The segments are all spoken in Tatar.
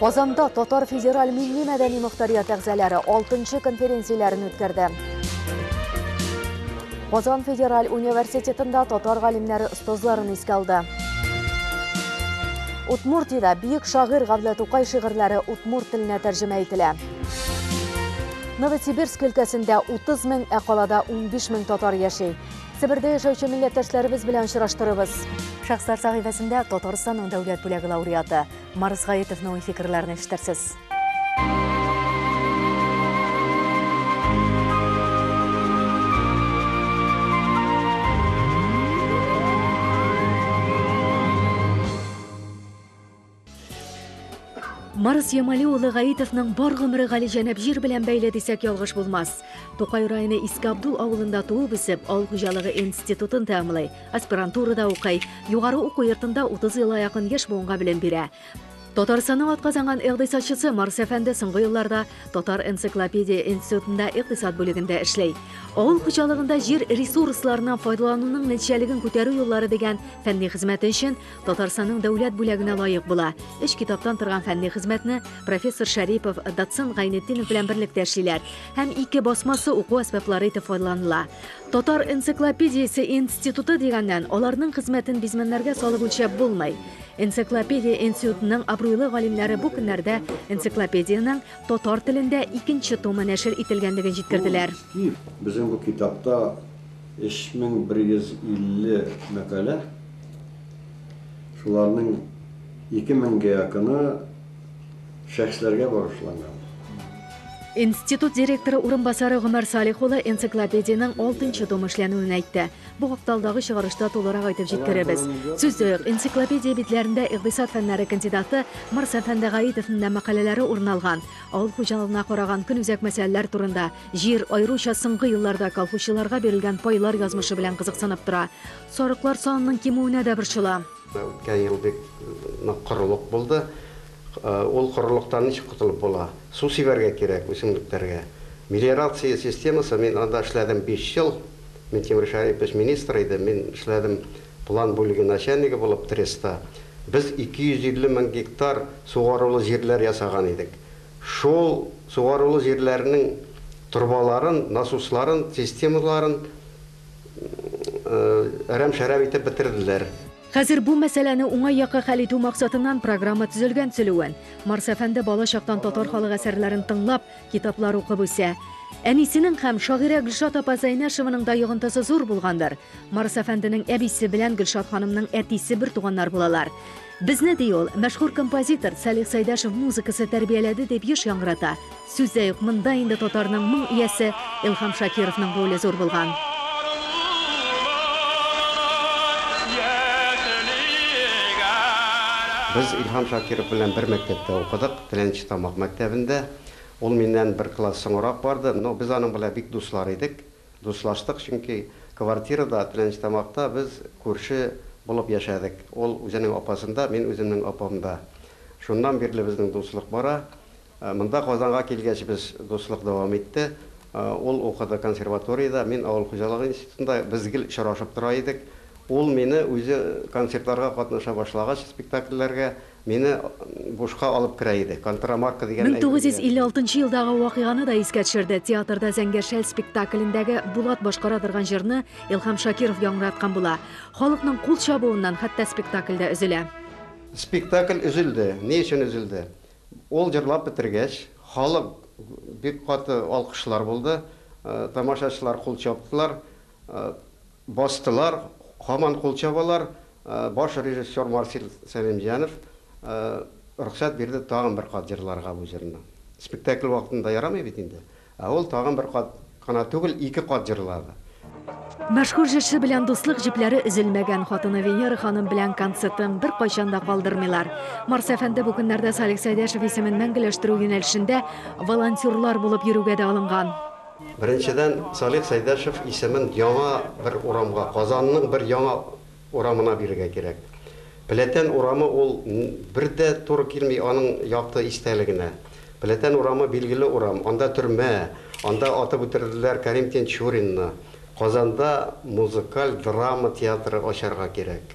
Казанда Татар федераль милли-мәдәни мөхтәрият әгъзалары 6 конференцияләрен үткәрде. Казан федераль университетында татар галимнәре остазларын искә алды. Утмуртида бөек шагыйрь Гавлә Тукай шигырьләре утмурт теленә тәрҗемә ителә. Новосибирск өлкәсендә 30 мең, ә калада 15 мең татар яши. Себердә яшәүче милләттәшләребез белән очраштырыбыз. Шәхесләр сәхифәсендә Татарстанның дәүләт бүләге лауреаты, Марс Гаетовның фикерләрен ишетерсез. Марс Ямали улы Гаитовның бар гомере галиҗәнәп җир белән бәйле дисәк ялгыш булмас. Тукай районы Иске Абдул авылында туып үсеп, авыл хуҗалыгы институтын тәмамлый. Аспирантурада укый. Югары уку йортында 30 елга якын яшь буынга белем бирә. Татарстанның атказанган икътисадчысы Марс әфәнде соңгы елларда Татар энциклопедия институтында икътисад бүлегендә эшли. Авыл хуҗалыгында җир ресурсларыннан файдалануның нәтиҗәлеген күтәрү юллары дигән фәнни хезмәте өчен Татарстанның дәүләт бүләгенә лаек була. Өч китаптан торган фәнни хезмәтне профессор Шәрипов, доцент Гайнетдинов белән берлектә эшлиләр һәм ике басмасы уку әсбаплары итеп файдаланыла. Татар энциклопедиясе институты дигәннән, аларның хезмәтен бизмәннәргә салып үлчәп булмый. Энциклопедия институтының абруйлы галимнәре бу көннәрдә энциклопедиянең татар телендә икенче томы нәшер ителгәнлеген җиткерделәр. Безнең бу китапта 3150 мәкалә, шуларның ике меңгә якыны, шәхесләргә багышланган. Институт директоры урынбасары Гомәр Салих улы энциклопедиянең алтынчы томы эшләнүен әйтте. Бу хакта алдагы чыгарышта тулырак әйтеп җиткерербез. Сүздә юк, энциклопедия битләрендә икътисад фәннәре кандидаты Марс әфәнде Гаитовның да мәкаләләре урын алган. Авыл хуҗалыгына караган көнүзәк мәсьәләләр турында, җир, аеруча соңгы елларда колхозчыларга бирелгән пайлар язмышы белән кызыксынып тора. Сарыклар санының кимүенә дә борчыла. Үткән ел бик нык корылык булды. Ул корылыктан ничек котылып була? Су сибәргә кирәк үсемлекләргә. Мелиорация системасы, мин анда эшләдем биш ел. Минтимер Шәрипович министр иде, мин эшләдем план бүлеге начальнигы булып ТРЭСта. Без 250 мең гектар сугарулы җирләр ясаган идек. Шул сугарулы җирләрнең торбаларын, насусларын, системаларын Әрәм-шәрәм итеп бетерделәр. Хәзер бу мәсьәләне уңай якка хәл итү максатыннан программа төзелгән Цөлүән. Марс әфәнде бала чактан татар халык әсәрләрен тыңлап, китаплар укып үсә. Әнисенең һәм шагыйрә Гөлшат апа Зәйнәшеваның да йогынтысы зур булгандыр. Марс әфәнденең әбисе белән Гөлшат ханымның әтисе бертуганнар булалар. Безне, ди ул, мәшһүр композитор Салих Сәйдәшев музыкасы тәрбияләде, дип еш яңгырата. Сүз дә юк, монда инде татарның моң иясе Илһам Шакировның роле зур булган. Без Илһам Шакиров белән бер мәктәптә укыдык, Теләнче Тамак мәктәбендә. Ул миннән бер класс соңрак барды, но без аның белән бик дуслар идек. Дуслаштык, чөнки квартирада, Теләнчтамакта без күрше булып яшәдек. Ул үзенең апасында, мин үземнең апамда. Шуннан бирле безнең дуслык бара. Монда Казанга килгәч без дуслык дәвам итте. Ул укыды консерваториядә, мин авыл хуҗалыгы институтында. Без гел очрашып тора идек. Ул мине үзе концертларга катнаша башлагач, спектакльләргә, Мине бушка алып керә иде. Контрамарка дигән Мең тугыз йөз илле алтынчы елдагы вакыйганы да искә төшерде, театрда Зәңгәр шәл спектаклендәге Булат башкара торган җырны Илһам Шакиров яңгыраткан була. Халыкның кул чабуыннан хәтта спектакль дә өзелә. Спектакль өзелде. Ни өчен өзелде? Ул җырлап бетергәч, халык бик каты алкышлар булды, тамашачылар кул чаптылар. Бастылар, һаман кул чабалар, баш режиссер Марсель Сәлимҗанов рөхсәт бирде тагын бер кат җырларга бу җырны. Спектакль вакытында ярамый бит инде, ә ул тагын бер кат кына түгел, ике кат җырлады. Мәшһүр җырчы белән дуслык җепләре өзелмәгән, хатыны Венера ханым белән концертын беркайчан да калдырмыйлар. Марс әфәнде бу көннәрдә Салих Сәйдәшев исемен мәңгеләштерү юнәлешендә волонтерлар булып йөрүгә дә алынган. Беренчедән, Салих Сәйдәшев исемен яңа бер урамга, Казанның бер яңа урамына бирергә кирәк. Пләтән урамы ул бер дә туры килми аның якты истәлегенә. Пләтән урамы билгеле урам, анда төрмә, анда атып үтерделәр Кәрим Тинчуринны. Казанда музыкаль драма театры ачарга кирәк.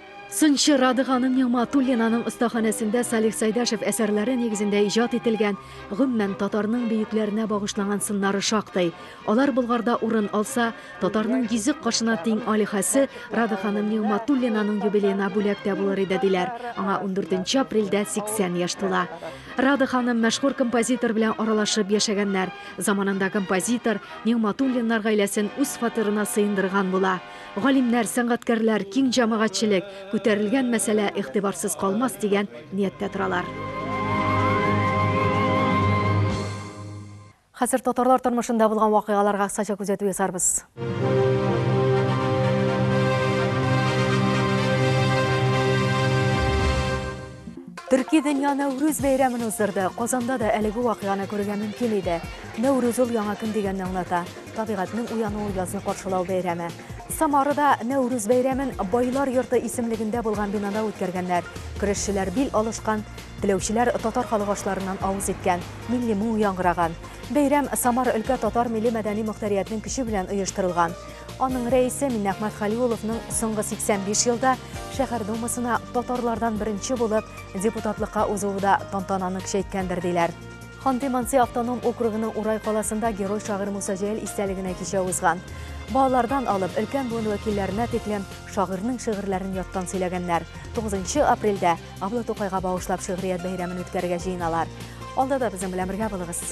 Сынчы Радыганың Нигъматуллинаның остаханәсендә Салих Сайдашев әсәрләре нигезендә иҗат ителгән, гомумән, татарның бөекләренә багышланган сыннары шактый. Алар Болгарда урын алса, татарның йөзек кашына тиң алиһәсе Рады ханым Нигъматуллинаның юбилеена бүләк тә булыр иде, диләр. Аңа 14 апрельдә 80 яшь тула. Рады ханым мәшһүр композитор белән аралашып яшәгәннәр. Заманында композитор Нигъматуллиннар гаиләсен үз фатирына сыендырган була. Галимнәр, сәнгатькәрләр, киң җәмәгатьчелек, күтәрелгән мәсьәлә игътибарсыз калмас дигән нияттә торалар. Хәзер татарлар тормышында булган вакыйгаларга кыскача күзәтү ясарбыз. Төрки дөнья Нәүрүз бәйрәмен уздырды. Казанда да әлеге вакыйганы күрергә мөмкин иде. Нәүрүз ул яңа көн дигәнне аңлата. Табигатьнең уянуы язны каршылау бәйрәме. Самарада Нәүрүз бәйрәмен Байлар йорты исемлегендә булган бинада үткәргәннәр. Көрәшчеләр бил алышкан, теләүчеләр татар халык ашларыннан авыз иткән, милли моң яңгыраган. Бәйрәм Самар өлкә татар милли мәдәни мөхтәриятнең көче белән оештырылган. Аның рәисе Миннәхмәт Халиуловның соңгы 85 елда шәһәр думасына татарлардан беренче булып депутатлыкка узуы да тантананы көчәйткәндер, диләр. Ханты-Манси автоном округының Урай каласында герой шагыйрь Муса Җәлил истәлегенә кичә узган. Балалардан алып, өлкән буын вәкилләренә тиклем шагыйрьнең шигырьләрен яттан сөйләгәннәр. 9 апрельдә Абла Тукайга багышлап шигърият бәйрәмен үткәрергә җыеналар. Алда да безнең белән бергә булыгыз.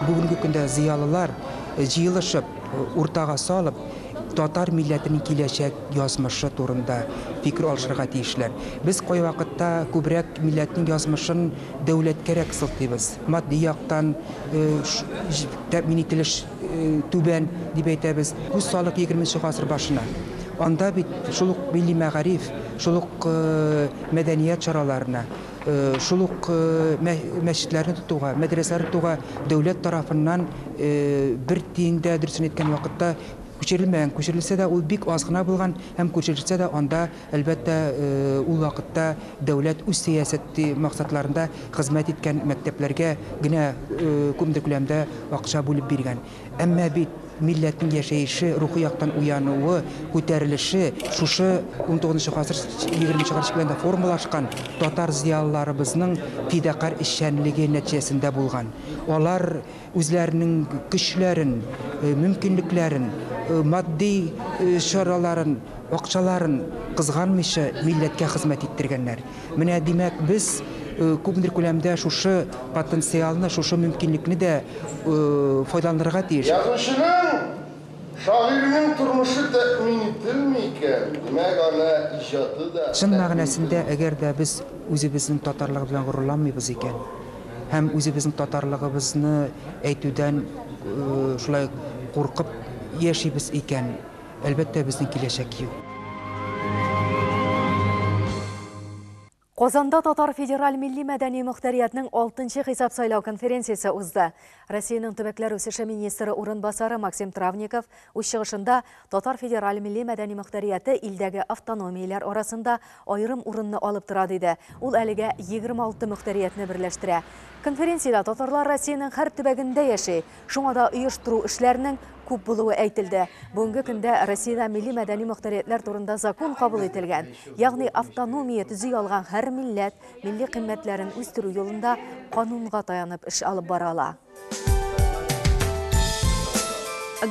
Бүгенге көндә зыялылар җыелышып, уртага салып, татар милләтенең киләчәк язмышы турында фикер алышырга тиешләр. Без кайвакытта күбрәк милләтнең язмышын дәүләткәрәк сылтыйбыз. Матди яктан тәэмин ителеш түбән, дип әйтәбез. Күз салыйк егерменче гасыр башына. Анда бит шул ук милли мәгариф, шул ук мәдәният чараларына, Шул ук мәчетләрне тотуга, мәдрәсәләр тотуга дәүләт тарафыннан бер тиен дә, дөресен әйткән вакытта, күчерелмәгән. Күчерелсә дә, ул бик аз гына булган һәм күчерелсә дә, анда, әлбәттә, ул вакытта дәүләт үз сәясәте максатларында хезмәт иткән мәктәпләргә генә күпмедер күләмдә акча бүлеп биргән. Әмма бит милләтнең яшәеше, рухи яктан уянуы, күтәрелеше шушы унтугызынчы гасыр егерменче гасыр белән дә формалашкан татар зыялыларыбызның фидакарь эшчәнлеге нәтиҗәсендә булган. Алар үзләренең көчләрен, мөмкинлекләрен, матди чараларын, акчаларын кызганмыйча милләткә хезмәт иттергәннәр. Менә, димәк, без күпмедер күләмдә шушы потенциалны, шушы мөмкинлекне дә файдаланырга тиеш. Язучының, шагыйрьнең тормышы тәэмин ителми икән, димәк, аны иҗаты да. Чын мәгънәсендә, әгәр дә без үзебезнең татарлыгы белән горурланмыйбыз икән һәм үзебезнең татарлыгыбызны әйтүдән шулай куркып яшибез икән, Әлбәттә, безнең киләчәк юк. Казанда Татар федераль милли-мәдәни мөхтәриятнең алтынчы хисап сайлау конференциясе узды. Россиянең төбәкләр үсеше министры урынбасары Максим Травников үз чыгышында Татар федераль милли-мәдәни мөхтәрияте илдәге автономияләр арасында аерым урынны алып тора, диде. Ул әлегә 26 мөхтәриятне берләштерә. Конференциядә татарлар Россиянең һәр төбәгендә яши, шуңа да оештыру эшләренең күп булуы әйтелде. Бүгенге көндә Россиядә милли-мәдәни мөхтәриятьләр турында закон кабул ителгән, ягъни автономия төзи алган һәр милләт милли кыйммәтләрен үстерү юлында канунга таянып эш алып бара ала.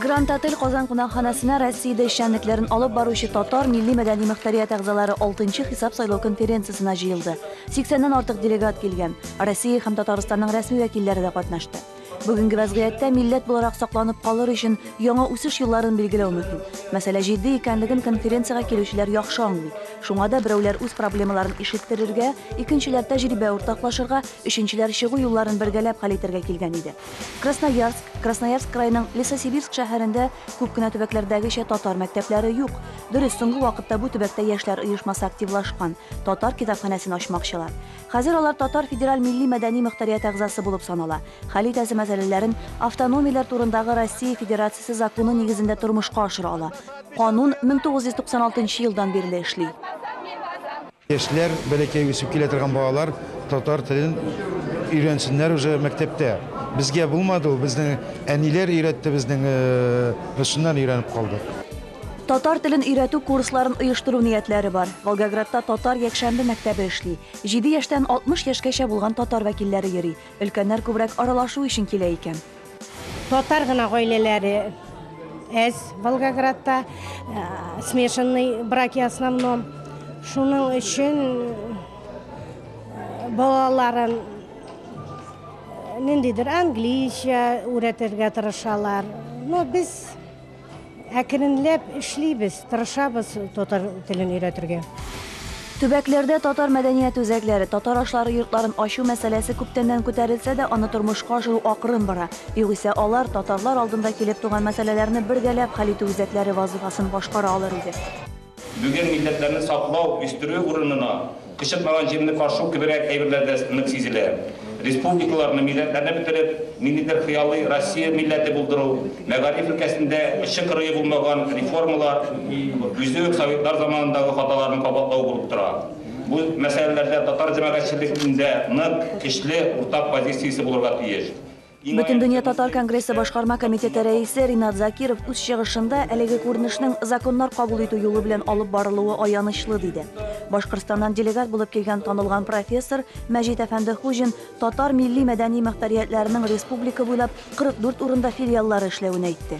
Гранд Отель Казан кунакханәсенә Россиядә эшчәнлекләрен алып баручы татар милли-мәдәни мөхтәрият әгъзалары 6 хисап сайлау конференциясенә җыелды. 80-ннән артык делегат килгән. Россия һәм Татарстанның рәсми вәкилләре дә катнашты. Бүгенге вәзгыятьтә милләт буларак сакланып калыр өчен яңа үсеш юлларын билгеләү мөһим. Мәсьәлә җитди икәнлеген конференциягә килүчеләр яхшы аңлый. Шуңа да берәүләр үз проблемаларын ишеттерергә, икенчеләр тәҗрибә уртаклашырга, өченчеләр чыгу юлларын бергәләп хәл итәргә килгән иде. Красноярск, Красноярск краеның Лесосибирск шәһәрендә күп кенә төбәкләрдәгечә татар мәктәпләре юк. Дөрес, соңгы вакытта бу төбәктә яшьләр оешмасы активлашкан, татар китапханәсен ачмакчылар. Хәзер алар татар федераль милли-мәдәни мөхтәрият әгъзасы булып санала, хәл итәсе мәсьәләләрен автономияләр турындагы Россия Федерациясе законы нигезендә тормышка ашыра ала. Канун 1996 елдан бирле эшли. Яшьләр, бәләкәй үсеп килә торган балалар татар телен өйрәнсеннәр уже мәктәптә. Безгә булмады ул, безнең әниләр өйрәтте, безнең шуннан өйрәнеп калдык. Татар телен өйрәтү курсларын оештыру ниятләре бар. Волгоградта татар якшәмбе мәктәбе эшли. Җиде яшьтән 60 яшькәчә булган татар вәкилләре йөри. Өлкәннәр күбрәк аралашу өчен килә икән. Татар гына гаиләләре әз Волгоградта, смешанный браки основном. Шуның өчен балаларын ниндидер английча өйрәтергә тырышалар. Но без Әкренләп эшлибез, тырышабыз татар телен өйрәтергә. Төбәкләрдә татар мәдәният үзәкләре, татар ашлары йортларын ачу мәсьәләсе күптәннән күтәрелсә дә, аны тормышка ашыру акрын бара. Югыйсә алар татарлар алдында килеп туган мәсьәләләрне бергәләп хәл итү үзәкләре вазыйфасын башкара алыр иде. Бүген милләтләрне саклау, үстерү урынына, кычытмаган җирне фаршу кеберәк әйберләрдә нык сизелә. Республикаларны, милләтләрне бетереп, ниндидер хыялый Россия милләте булдыру, мәгариф өлкәсендә очы-кырые булмаган реформалар үзе үк советлар заманындагы хаталарны кабатлау булып тора. Бу мәсьәләләрдә татар җәмәгатьчелегендә нык, көчле уртак позициясе булырга тиеш. Бөтендөнья татар конгрессы башкарма комитеты рәисе Ринат Закиров үз чыгышында әлеге күренешнең законнар кабул итү юлы белән алып барылуы аянычлы диде. Башкортстаннан делегат булып килгән танылган профессор Мәҗит әфәнде Хуҗин татар милли-мәдәни мөхтәриятләренең республика буйлап 44 урында филиаллары эшләвен әйтте.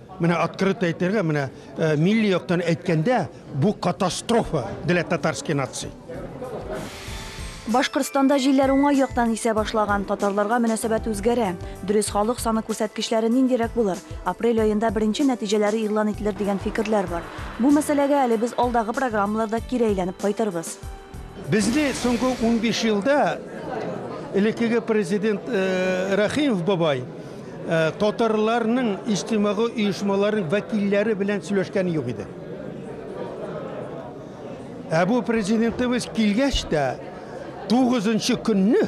Менә открыто әйтергә, менә э, милли яктан әйткәндә, бу катастрофа для татарской нации. Башкортстанда җилләр уңай яктан исә башлаган, татарларга мөнәсәбәт үзгәрә. Дөрес халык саны күрсәткечләре ниндирәк булыр? Апрель аенда беренче нәтиҗәләре игълан ителер дигән фикерләр бар. Бу мәсьәләгә әле без алдагы программаларда кире әйләнеп кайтырбыз. Безне соңгы 15 елда элеккеге президент э, Рәхимов бабай Ә татарларның иҗтимагый оешмалары вәкилләре белән сөйләшкәне юк иде. Ә бу президентыбыз килгәч тә, тугызынчы көнне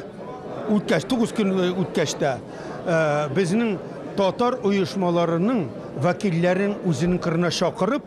үткәч, тугыз көн үткәч тә, безнең татар оешмаларының вәкилләрен үзенең кырына чакырып,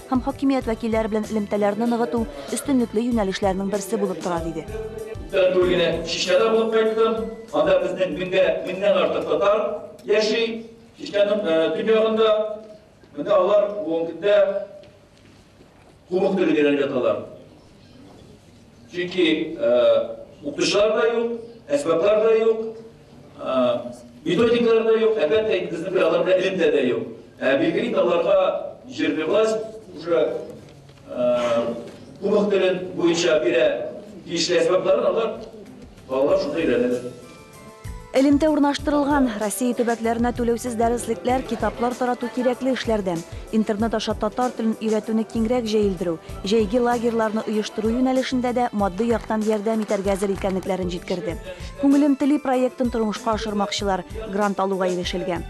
һәм хакимият вәкилләре белән элемтәләрне ныгыту өстенлекле юнәлешләрнең берсе булып тора, диде. Күптән түгел генә Чечняда булып кайттым. Анда безнең меңгә меңнән артык татар яши. Чечняның төньягында. Менә алар бүгенге көндә кубок телен өйрәнеп яталар. Чөнки укытучылар да юк, әсбаплар да юк, методикалар да юк, әлбәттә инде безнең белән аларда элемтә дә юк. Ә билгеле инде аларга җирле власть уже кубок телен буенча бирә тиешле әсбапларын алар балалар шунда өйрәнәләр. Элемтә урнаштырылган Россия төбәкләренә түләүсез дәреслекләр, китаплар тарату кирәкле эшләрдән. Интернет аша татар телен өйрәтүне киңрәк җәелдерү, җәйге лагерьларны оештыру юнәлешендә дә матди яктан ярдәм итәргә әзер икәнлекләрен җиткерде. Күңелем тели проектын тормышка ашырмакчылар, грант алуга ирешелгән.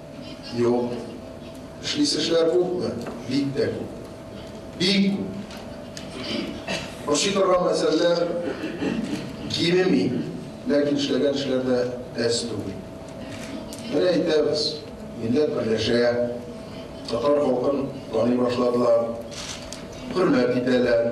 Юк. Эшлисе эшләр күпме? Бик тә күп. Бик күп. Ошый торган мәсьәләләр кимеми, ләкин эшләгән эшләр дә әз түгел. Менә әйтәбез, милләт берләшә, татар халкын таный башладылар, хөрмәт итәләр.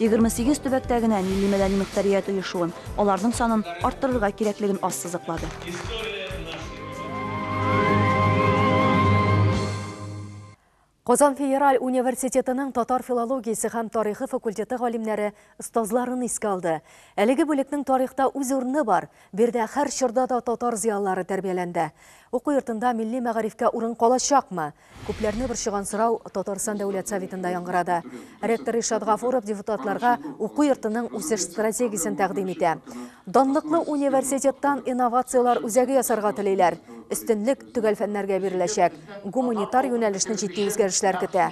28 төбәктә генә милли-мәдәни мөхтәрият оешуын, аларның санын арттырырга кирәклеген ассызыклады. Казан федераль университетының татар филологиясе һәм тарихы факультеты галимнәре остазларын искә алды. Әлеге бүлекнең тарихта үз урыны бар. Бирдә һәр чорда да татар зыялылары тәрбияләнде. Уку йортында милли мәгарифкә урын калачакмы? Күпләрне борчыган сорау Татарстан Дәүләт Советында яңгырады. Ректор Ришат Гафуров депутатларга уку йортының үсеш стратегиясен тәкъдим итә. Данлыклы университеттан инновацияләр үзәге ясарга телиләр. Өстенлек төгәл фәннәргә биреләчәк. Гуманитар юнәлешне җитди үзгәрешләр көтә.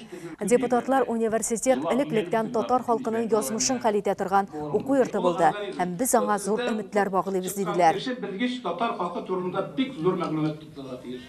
Депутатлар университет элек-электән татар халкының язмышын хәл итә торган уку йорты булды һәм без аңа зур өметләр баглыйбыз, диделәр. Укытучы белгеч татар халкы турында бик зур мәгълүмат тупларга тиеш.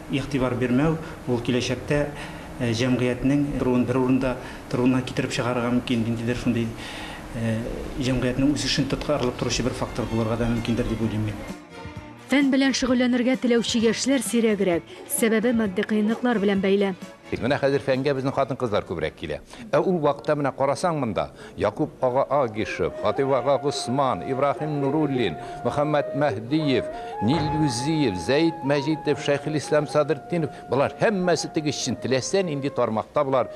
Игътибар бирмәү, ул киләчәктә җәмгыятьнең торуын бер урында торуына китереп чыгарырга мөмкин, ниндидер шундый җәмгыятьнең үсешен тоткарлык торучы бер фактор булырга да мөмкиндер дип уйлыйм мин. Фән белән шөгыльләнергә теләүче яшьләр сирәгрәк, сәбәбе матди кыенлыклар белән бәйле. Тик менә хәзер фәнгә безнең хатын-кызлар күбрәк килә. Ә ул вакытта менә карасаң монда, Якуп ага Агишев, Хатыйп ага Госман, Ибраһим Нуруллин, Мөхәммәт Мәһдиев, Нил Юзиев, Зәет Мәҗитов, Шәйхелислам Садретдинов, болар һәммәсе теге чын, теләсә нинди тармакта болар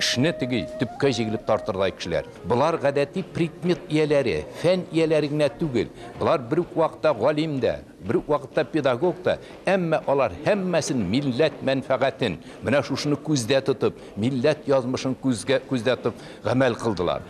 эшне теге төпкә җигелеп тартырдай кешеләр. Болар гадәти предмет ияләре, фән ияләре генә түгел, болар бер үк вакытта галим дә. Бер үк вакытта педагог та, әмма алар һәммәсен милләт мәнфәгатен, менә шушыны күздә тотып, милләт язмышын күзгә күздә тотып гамәл кылдылар.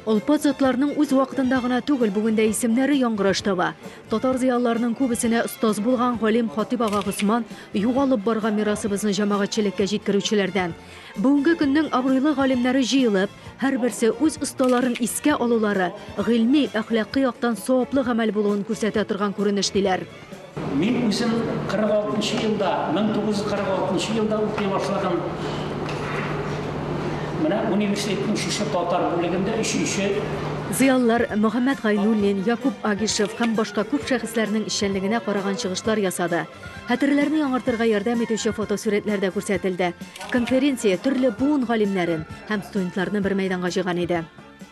Олпат затларның үз вакытында гына түгел, бүген дә исемнәре яңгыраш таба. Татар зыялыларының күбесенә остаз булган галим Хатыйп ага Госман, югалып барган мирасыбызны җәмәгатьчелеккә җиткерүчеләрдән. Бүгенге көннең абруйлы галимнәре җыелып, һәрберсе үз осталарын искә алулары гыйльми, әхлакый яктан саваплы гамәл булуын күрсәтә торган күренеш, диләр. Мин үзем 46 нчы елда, 1946 нчы елда укый башладым. Менә университетның шушы татар бүлегендә өченче. Зыялылар Мөхәммәт Гайнуллин, Якуп Агишев һәм башка күп шәхесләрнең эшчәнлегенә караган чыгышлар ясады. Хәтерләрне яңартырга ярдәм итүче фотосурәтләр дә күрсәтелде. Конференция төрле буын галимнәрен һәм студентларны бер мәйданга җыйган иде.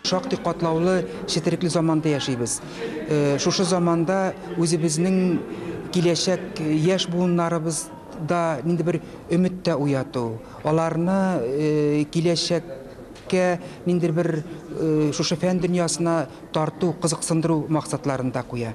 Шактый катлаулы, четерекле заманда яшибез. Шушы заманда үзебезнең киләчәк яшь буыннарыбыз да нинди бер өмет тә уяту, аларны киләчәккә ниндидер бер шушы фән дөньясына тарту, кызыксындыру максатларын да куя.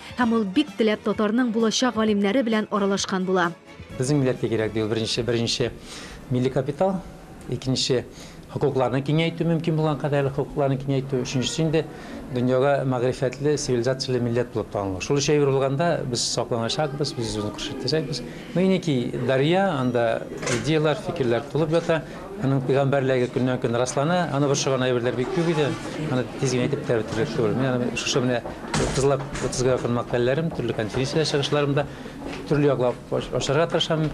Һәм ул бик теләп татарның булачак галимнәре белән аралашкан була. Безнең милләткә кирәк, ди ул беренче, беренче, милли капитал, икенче, хокукларны киңәйтү, мөмкин булган кадәрле хокукларны киңәйтү, өченчесе инде, дөньяга мәгърифәтле, цивилизацияле милләт булып танылу. Шул өчәве булганда, без сакланачакбыз, без үзебезне көрчәтәчәкбез. Ну и некий дарья, анда идеяләр, фикерләр тулып ята. Аның пәйгамбәрлеге көннән-көн раслана. Аны борчыган әйберләр бик күп иде. Аны тиз генә әйтеп тә бетерерлек түгел. Мин аны шушы менә 30лап, 30га якын мәкаләләрем, төрле конференцияләр чыгышларымда төрле яклап ачарга тырышам.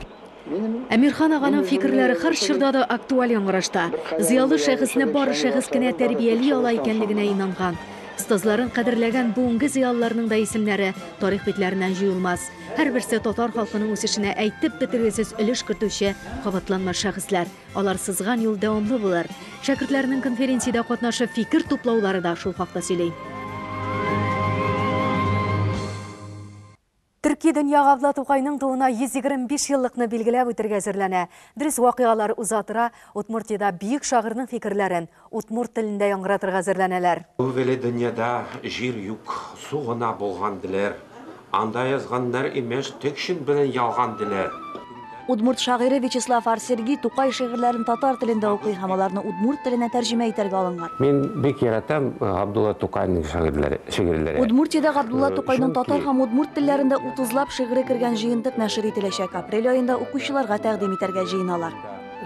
Әмирхан аганың фикерләре һәр чорда да актуаль яңгырашта. Зыялы шәхесне бары шәхес кенә тәрбияли ала икәнлегенә инанган. Остазларын кадерләгән бүгенге зыялыларның да исемнәре тарих битләреннән җуелмас. Һәрберсе татар халкының үсешенә әйтеп бетергесез өлеш кертүче кабатланмас шәхесләр. Алар сызган юл дәвамлы булыр. Шәкертләрнең конференциядә катнашып фикер туплаулары да шул хакта сөйли. Төрки дөнья Габдла Тукайның тууына 125 еллыкны билгеләп үтәргә әзерләнә. Дөрес вакыйгалар уза тора, Удмуртиядә бөек шагыйрьнең фикерләрен, Удмурт телендә яңгыратырга әзерләнәләр. Түгеле дөньяда җир юк, су гына булган диләр. Анда язганнар, имеш, текшин белән ялган диләр. Удмурт шагыйре Вячеслав Ар. Сергий Тукай шигырьләрен татар телендә укый һәм аларны удмурт теленә тәрҗемә итәргә алынган. Мин бик яратам Габдулла Тукайның шагыйрьләре, шигырьләре. Удмуртиядә Габдулла Тукайның татар һәм удмурт телләрендә утызлап шигыре кергән җыентык нәшер ителәчәк, апрель аенда укучыларга тәкъдим итәргә җыеналар.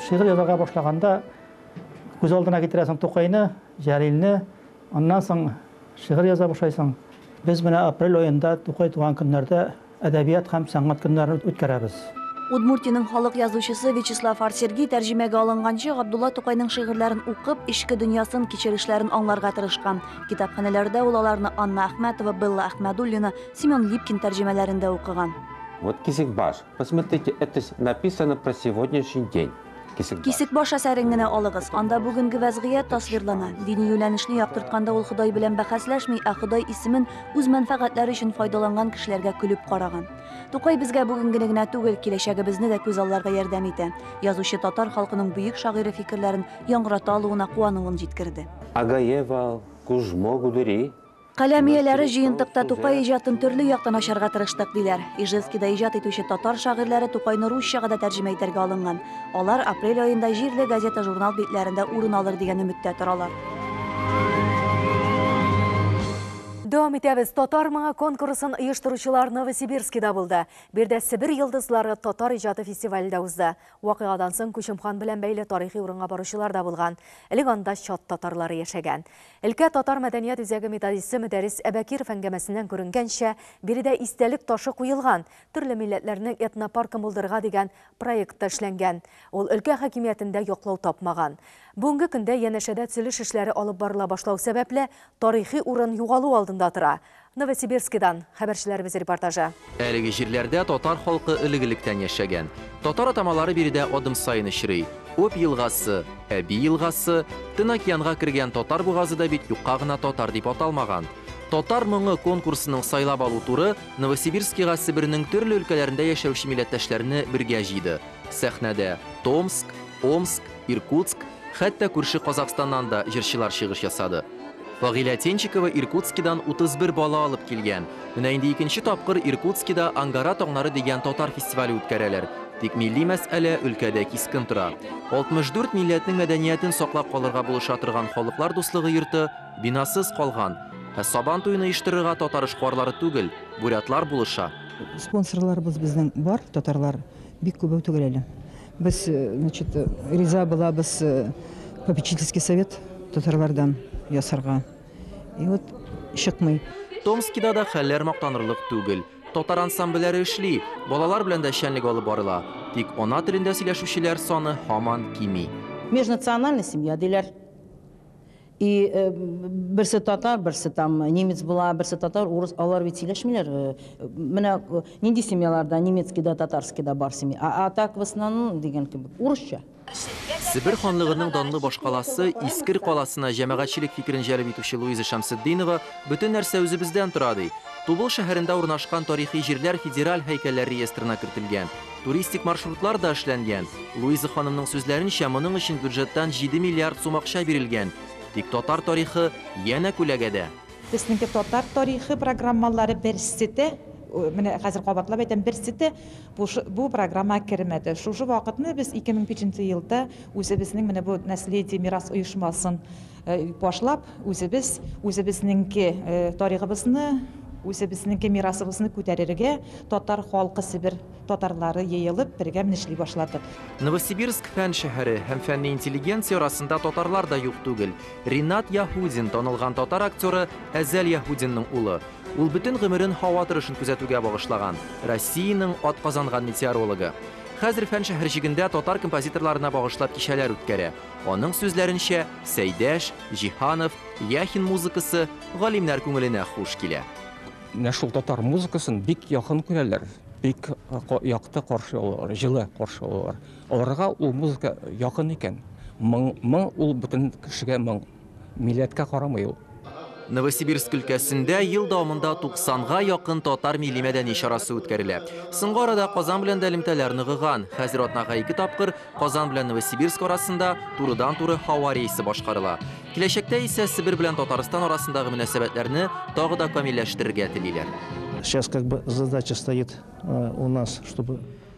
Шигырь язарга башлаганда, Күз алдына китерәсең Тукайны, Җәлилне, аннан соң шигырь яза башлайсың. Без менә апрель аенда Тукай туган көннәрдә әдәбият һәм сәнгать көннәрен үткәрәбез. Удмуртиянең халык язучысы Вячеслав Арсергий тәрҗемәгә алынганчы Габдулла Тукайның шигырьләрен укып, эчке дөньясын, кичерешләрен аңларга тырышкан. Китапханәләрдә ул аларны Анна Әхмәтова, Белла Әхмәдуллина, Семен Липкин тәрҗемәләрендә укыган. Вот кисекбаш, посмотрите, это ж написано про сегодняшний день. Кисек баш әсәрен генә алыгыз. Анда бүгенге вәзгыять тасвирлана. Дини юнәлешне яктыртканда ул Ходай белән бәхәсләшми, ә Ходай исемен үз мәнфәгатьләре өчен файдаланган кешеләргә көлеп караган. Тукай безгә бүгенгене генә түгел, киләчәгебезне дә күз алларга ярдәм итә. Язучы татар халкының бөек шагыйре фикерләрен яңгырата алуына куануын җиткерде. Агаевал, Кужмо Гудери, Каләм ияләре җыентыкта Тукай иҗатын төрле яктан ачарга тырыштык, диләр. Ижевскида иҗат итүче татар шагыйрьләре Тукайны русчага да тәрҗемә итәргә алынган. Алар апрель аенда җирле газета-журнал битләрендә урын алыр дигән өметтә торалар. Дәвам итәбез. Татар моңы конкурсын оештыручылар Новосибирскида булды. Биредә Себер йолдызлары татар иҗаты фестивале дә узды. Вакыйгадан соң Күчем хан белән бәйле тарихи урынга баручылар да булган. Элек анда чат татарлары яшәгән. Өлкә татар мәдәният үзәге методисты Мөдәррис Әбәкиров әңгәмәсеннән күренгәнчә, биредә истәлек ташы куелган, төрле милләтләрнең этнопаркын булдырырга дигән проект та эшләнгән. Ул өлкә хакимиятендә яклау тапмаган. Бүгенге көндә янәшәдә төзелеш эшләре алып барыла башлау сәбәпле, тарихи урын югалу алдында тора. Новосибирскидан хәбәрчеләребез репортажы. Әлеге җирләрдә татар халкы элек-электән яшәгән. Татар атамалары биредә адым саен очрый. Обь елгасы, Әби елгасы, Тын океанга кергән Татар бугазы да бит юкка гына Татар дип аталмаган. Татар моңы конкурсының сайлап алу туры Новосибирскига Себернең төрле өлкәләрендә яшәүче милләттәшләрне бергә җыйды. Сәхнәдә, Томск, Омск, Иркутск, хәтта күрше Казахстаннан да җырчылар чыгыш ясады. Фагилә Тенчикова Иркутскидан 31 бала алып килгән. Менә инде икенче тапкыр Иркутскида Ангара таңнары дигән татар фестивале үткәрәләр. Тик милли мәсьәлә өлкәдә кискен тора. 64 милләтнең мәдәниятен саклап калырга булыша торган Халыклар дуслыгы йорты бинасыз калган. Ә Сабан туен оештырырга татар эшкуарлары түгел, бурятлар булыша. Спонсорларыбыз безнең бар, татарлар бик күбәү түгел әле. Без значит риза булабыз попечительский совет татарлардан ясарга. И вот чыкмый. Томскида да хәлләр мактанырлык түгел. Татар ансамбльләре эшли, балалар белән дә эшчәнлек алып барыла. Тик ана телендә сөйләшүчеләр саны һаман кими. Межнациональный семья диләр. И берсе татар, берсе там немец була, берсе татар, урыс, алар бит сөйләшмиләр. Менә нинди семьяларда немецкий да, татарский да бар семья. А, а так в основном дигән кебек урысча. Себер ханлыгының данлы башкаласы Искер каласына җәмәгатьчелек фикерен җәлеп итүче Луиза Шәмсетдинова бөтен нәрсә үзебездән тора ди. Тубыл шәһәрендә урнашкан тарихи җирләр федераль һәйкәлләр реестрына кертелгән. Туристик маршрутлар да эшләнгән. Луиза ханымның сүзләренчә, моның өчен бюджеттан 7 миллиард сум акча бирелгән. Тик татар тарихы янә күләгәдә. Безнеке татар тарихы программалары берсе дә, менә хәзер кабатлап әйтәм, берсе дә бу программага кермәде. Шушы вакытны без 2005 елда үзебезнең менә бу Наследие, мирас оешмасын, Башлап үзебез, үзебезнеңке таригыбызны, үзебезнеңке мирасыбызны күтәрергә татар халкы себер татарлары еелып бергә менә эшли башладык. Новосибирск фән шәһәре һәм фәнни интеллигенция арасында татарлар да юк түгел. Ринат Яһудин, танылган татар актеры Әзәл Яһудинның улы. Ул бөтен гомерен һава торышын күзәтүгә багышлаган, Россиянең атказанган метеорологы. Хәзер фән шәһәрҗегендә татар композиторларына багышлап кичәләр үткәрә. Аның сүзләренчә, Сәйдәш, Җиһанов, Яхин музыкасы галимнәр күңеленә хуш килә. Менә шул татар музыкасын бик якын күрәләр, бик якты каршы алалар, җылы каршы алалар. Аларга ул музыка якын икән. Моң, моң ул бөтен кешегә моң. Милләткә карамый ул. Новосибирск өлкәсендә ел дәвамында 90 га якын татар милли-мәдәни чарасы үткәрелә. Соңгы арада Казан белән дә элемтәләр ныгыган. Хәзер атнага ике тапкыр Казан белән Новосибирск арасында турыдан-туры һава рейсы башкарыла. Киләчәктә исә Себер белән Татарстан арасындагы мөнәсәбәтләрне тагы да камилләштерергә телиләр. Сейчас как бы задача стоит у нас, чтобы